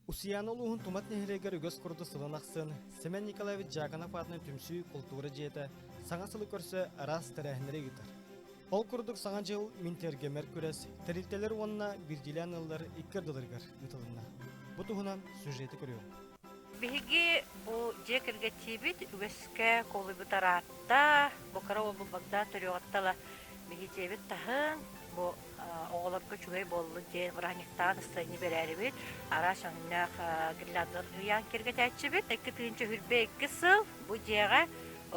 Устуйаана улууһун Тумат нэһилиэгэр үгэс курдук сылын ахсын Семен Николаевич Дьаакынап аатынан түмсүү култуура дьиэтэ саҥа сылы көрсө араас тэрээһиннэри ыытар. Ол курдук саҥа дьыл мин тиэргэмэр күрэс тэрилтэлэр уонна биирдиилээн ыаллар икки ардыларыгар ыытылынна. Бу туһунан сюжеты көрүҥ. Биһиги бу дьиэ кэргэттиибит үгэскэ куолуйбут араатта, бу кыра уол Богдан төрүөҕүттала биһиэтиэбит таһын, бу оҕолорго үчүгэй буоллун диэн бырааһынньыктаан ыстайын бэрээрибит араас өҥнөөх гирляндалар уйаан киргэтээччибит икки тыынча үрбэ икки сыл бу дьиэҕэ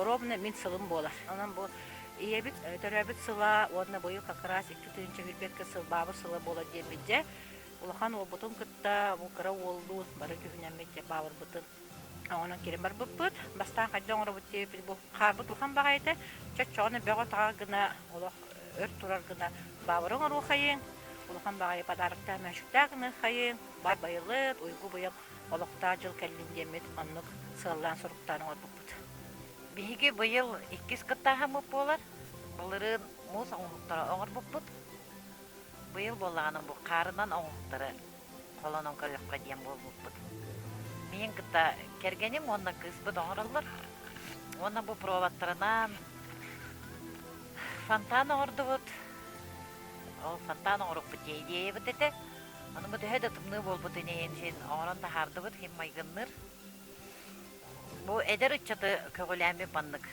ровно мин сылым буолар онон бу ийэбит төрөөбүт сыла уонна быйыл как раз икки тыынча үрбэ икки сыл баабыр сыла буолар диэммит дьэ улахан уолбутун кытта кыра уоллуун бары түһүнэммит баабырбытын Онон кире барбыппыт. Бастаан хайда оҥоробут диэбиппит бу хаалбыт улахан баҕайы этэ. Чоччоҕуна бөҕө-таҕа гына олох өр турар гына баабыры оҥоруоххайыҥ, улахан баҕайы подароктаах мөчүктээх гына ыыххайыҥ, бар байылыт, уйгу-быйаҥ олохтоох дьыл кэллин диэммит оннук сыаллаан суруктаан оҥорбуппут. Биһиги быйыл иккис кыттааһыммыт буолар. Былырыын муус оҥоһуктары оҥорбуппут. Быйыл буоллаҕына бу хаарынан оҥоһуктары холонон көрүөххэ диэн буолбуппут. Миин кытта кэргэним уонна кыыспыт оҥороллор. Уонна бу проводтарынан фонтан оҥордубут. Ол фонтан оҥорукпут дии идеябыт этэ. Ону бу төһө да тымныы буолбутун иһин син оҥорон таһаардыбыт, син майгынныыр. Бу эдэр ыччаты көҕүлээммит маннык.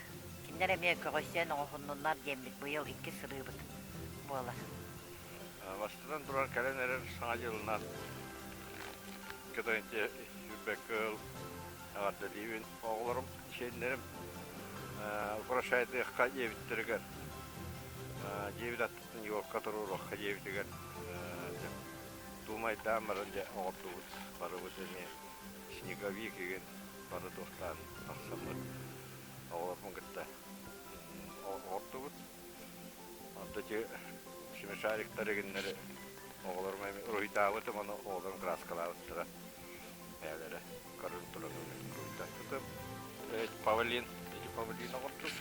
Кинилэр эмиэ көҕөйсөн оҥоһуннуннар диэммит быйыл иккис сырыыбыт буолар. Бастатан туран, кэлэн эрэр саҥа дьылынан кытары ирбэккэ ыл эҕэрдэлиибин оҕолорум, сиэннэрим украшайдыахха диэбиттэригэр дьиэбит аттыттан Нью-Йоркка туруоруохха диэбитигэр дуумайдаан баран дьэ оҕордубут барыбыт эмиэ снеговик игин бары туохтаан тахсаммыт оҕолорбун кытта оҕордубут Онно ити смешариктар эгиннэри оҕолорум эмиэ уруһуйдаабытым, ону оҕолорум крааскалаабыттара. Бэйэлэрэ көрөн туран уруһуйдаабытым. Эт павлин, эти павлин оҕордус.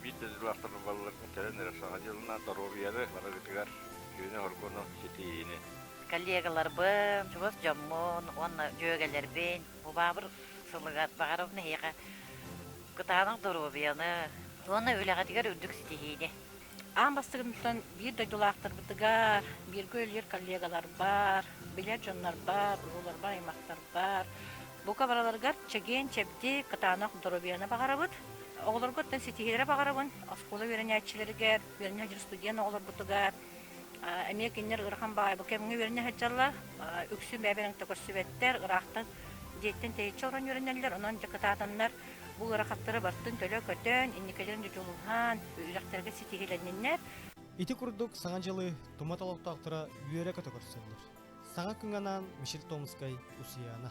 Биирдэ дьыллаахтар балларга кэлэн эрэ саха дьылынан доруобуйаны барыгытыгар сүүнэ хоргону, ситиһиини. Коллегаларбын, чугас дьоммун уонна дьүөгэлэрбин, убаабыр сылыгар баҕарабын эһиэхэ Кытаанах доруобуйаны уонна үлэҕитигэр үрдүк ситиһиини! Аан бастакытыттан биир дойдулаахтарбытыгар, бииргэ үлэлиир коллегаларбар, билэр дьоннорбор, урууларбар, аймахтарбар, бука бараларыгар чэгиэн-чэбдик, кытаанах доруобуйаны баҕарабыт. Оҕолоргуттан ситиһиилэри баҕарабын. Оскуола үөрэнээччилэригэр, үөрэнэр дьоро студент оҕолорбутугар, эмиэ кинилэр ыарахан баҕайы бу кэмҥэ үөрэнэ сылдьаллар үксү бэйэ-бэйэлэрин көтөҕүстүбэттэр ыраахтан дьиэттэн тэйиччи олорон үөрэнэллэр онон дьэ кытаатаннар бу ыарахаттары бартын төлө көтөн инникилэрин дьудьулуһан үрэхтэргэ ситиһилэнниннэр ити курдук саҥа дьылы тумат олохтоохторо үөрэ көтө көрсөллөр саҥа кыҥанаан мишель томскай усияна